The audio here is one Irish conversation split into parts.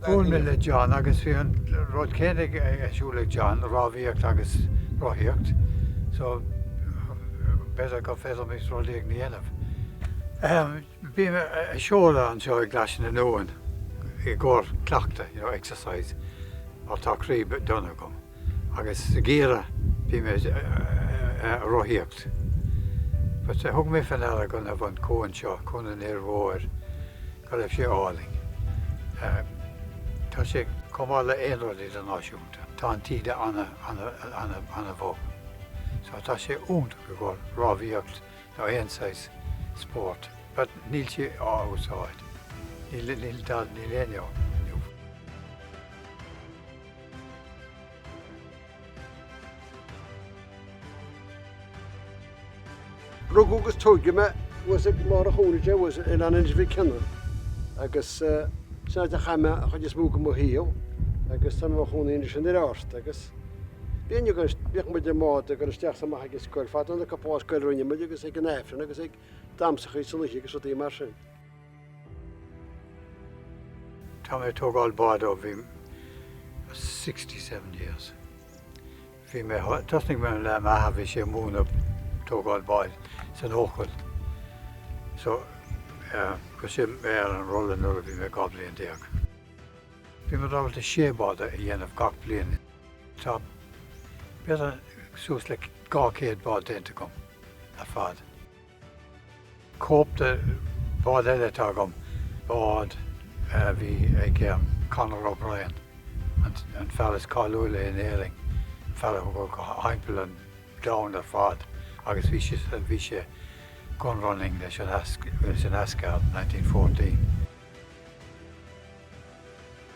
Bhuail mé le John agus bhí an rud céanna ar siúl ag John, rámhaíocht agus rothaíocht, so b'fhéidir gur féidir liom rud éigin a dhéanamh. Bhí mé ag seoladh anseo i gClais na nUan i gcomhair cleachtaidh, exercise, mar tá croí dona agam. agus ag iarraidh, bhí mé a' rothaíocht but thug mé fé ndeara go raibh an cuan seo, Cuan an Fhir Mhóir, go raibh sé álainn. Tá sé chomh maith le haon rud idirnáisiúnta. Tá an taoide ana, ana, ana bhog so tá sé iontach i gcóir rámhaíocht nó aon saghas spóirt but níl sé á úsáid, níl, níl, níl éinne ann. Rugadh agus tóigeadh mé thuas ag lár an chontae seo thuas i Oileán Inse Mhic Cionnaith agus sin áit a chaith mé an chuid is mó de mo shaol agus táim i mo chónaí anois in Iorras agus bhíonn agus bhíodh muid i mbád ag goil isteach is amach ag an scoil fadó an cúpla lá scoil a rinne muid agus ag an Aifreann agus ag damsachaí san oíche agus rudaí mar sin. Tá mé ag tógáil báid ó bhí me sixty seven years. Bhí mé, tosnaigh mé le m'athair bhí sé ag múineadh tógáil báid san Eochaill. So chuir sé mé ar an rolla nuair a bhí mé dhá bhliain déag. Bhí muid ábalta sé bhád a dhéanamh gach bliain. Tá b'fhéidir suas le dhá chéad bád déanta agam ar fad. Cóip de bhád eile atá agam, bád a bhí ag Conor O'Brien, an fear is cáiliúla in Éirinn, fella a chuaigh timpeall an domhain ar fad agus bhí sé bhí sé gun running leis an leis an Asgard in 1914.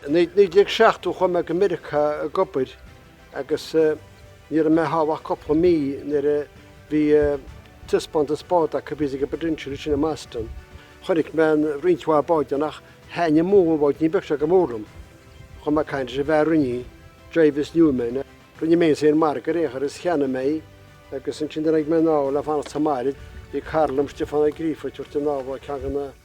I 1970 chuaigh mé go Meiriceá ag obair agus ní raibh mé thall ach cúpla mí nuair a bhí taispeántas bád acu, sa bPrudential, ansin i mBoston. Chonaic mé roinnt mhaith báid ann ach thaithin an múnla báidín beag seo go mór liom. Chuaigh mé ag caint leis an bhfear a rinne í, Jarvis Newman. Rinne mé an margadh ar aon chor is cheannaigh mé í agus ansin tháinig mé anall le fanacht sa mbaile. Bhí cara liom, Stiofán Ó Gríofa, ag tabhairt an ábhar ó cheann de na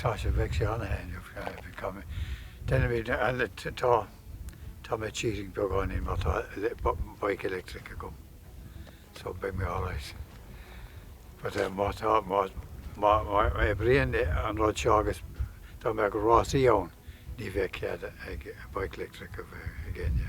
Tá sé, bheadh sé an-thaitneamhach, bheadh sé go maith. Deinimid, tá, tá mé cheating beagáinín mar tá bike electric agam so beidh mé alright. But eh má tá, má, má, má oibríonn an rud seo agus dá mbeadh rásaí ann ní bheadh cead ag bike electric a bheith ag éinne.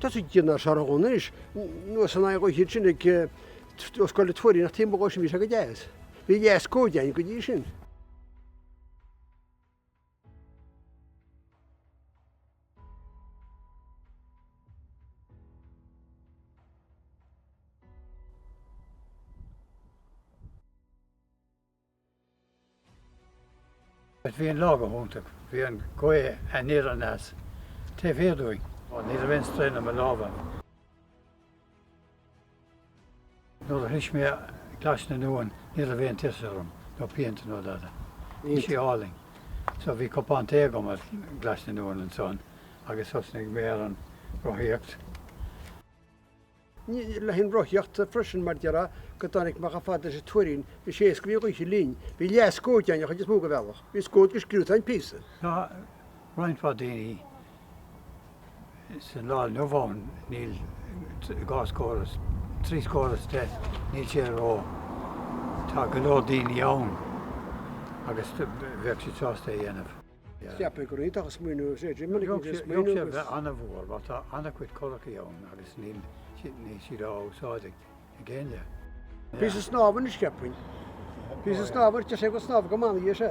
Tá sé déanach ar seargadh anois nó san aghaidh dhó sin ag scoil le tuairí nach taobh sin bhí sé go deas. Bhí dheas códein go dtí sin. Is bhí an lá go hiontach. Bhí an ghaoth aniar aneas. Taobh thiar dúinn. Ní raibh aon straein ar mo lámha. Nuair a shroich mé Glais na nUan, ní raibh aon tuirse orm, nó pianta ná dada. Bhí sé álainn. So bhí cupán tae agam ar Ghlais na nUan ansan agus thosnaigh mé ar an rothaíocht. Bhí leathan rothaíocht freisin mar deir Áth go dtáinig Macha fad leis an Tuairín. Is é a scríobh Oíche Linn, Bhí leathscód ann, an chuid is mó de bhealach. Bhí scód go sciúta ann píosa. Tá roinnt mhaith daoine sa lá inniu ann, níl dhá scór is trí scór is deich, níl sé ró, tá go leor daoine ann agus bheadh siad sásta é a dhéanamh. Ceapadh gur iontach an smaoineamh agus é Jimmy ag an smaoineamh. Ceapadh sé bheith an-mhór mar tá an-chuid curachaí ann agus níl siad á úsáid ag éinne. Bhí sé snámh anois ceapainn. Bhí sé snámh, deir sé go snámh go manaigh é sé.